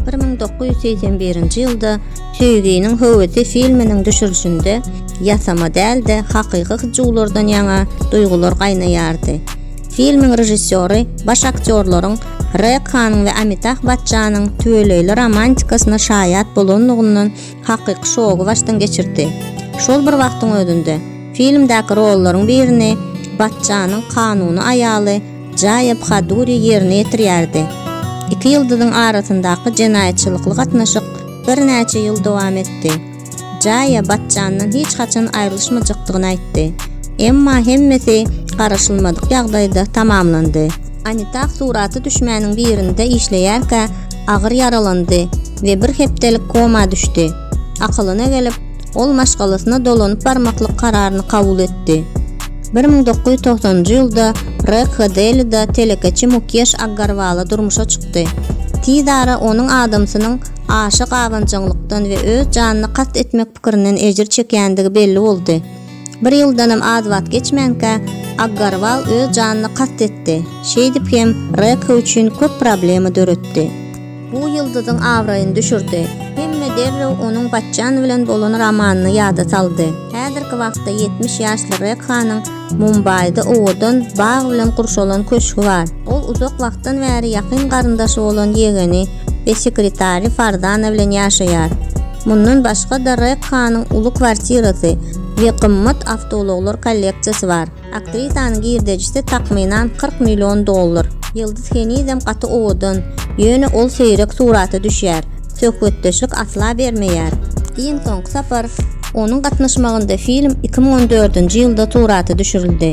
Bir müň dokuz ýüz segsen birinji ýylda Söýginiň höwesi filminiň düşürişinde ýasama däl-de, hakyky hyjuwlardan ýaňa duýgular gaýnaýardy. Filmiň režissýory baş aktýorlaryň Rek Hanyň we Amitah Batçanyň tüweleýli romantikasyna şaýat bolanlygyndan hakyky şogy başdan geçirdi. Şol bir wagtyň özünde, filmdäki rollaryň birini Batçanyň kanuny aýaly Jaýa Bhaduri ýerine ýetirýärdi. Iki ýyldyzyň arasyndaky jenaýatçylykly gatnaşyk birnäçe ýyl dowam etdi. Jaýa Bachchandan hiç haçan aýrylyşmajakdygyny aýtdy. Emma hemmesi garaşylmadyk ýagdaýda tamamlandy. Amitabh surata düşmäniň birinde işleýärkä agyr ýaralandy we bir hepdelik koma düşdi. Akylyna gelip, ol maşgalasyna dolanyp barmaklyk kararyny kabul etdi. Bir müň dokuz ýüz togsanynjy ýylda Rekha Delida telekeçi Mukeş Aggarwala durmuşa çykdy. Tiz ara onuň adamsynyň aşa gabanjaňlykdan we öz janyna kast etmek pikirinden ejir çekýändigi belli boldy. Bir ýyldanam az wagt geçmänkä, Aggarwal öz janyna kast etdi, şeýdip hem Rekha üçin köp problema döretdi. Bu ýyldyzyň abraýyny düşürdi. Hemme derrew onuň Batjan bilen bolan romanyny ýada saldy. Häzirki wagtda ýetmiş ýaşly Rekhanyň Mumbaýda owadan, bag bilen gurşalan köşgi bar. Ol uzak wagtdan bäri ýakyn garyndaşy bolan ýegeni we sekretary Fardana bilen ýaşaýar. Mundan başga-da Rekhanyň uly kwartirasy we gymmat awtoulaglar kolleksiýasy bar. Aktrisanyň girdejisi takmynan kyrk million dollar. Ýyldyz henizem gaty owadan, ýöne ol seýrek surata düşýär, söhbetdeşlik asla bermeýär. Iň soňky sapar onuň gatnaşmagynda film iki müň on dördünji ýylda surata düşürildi.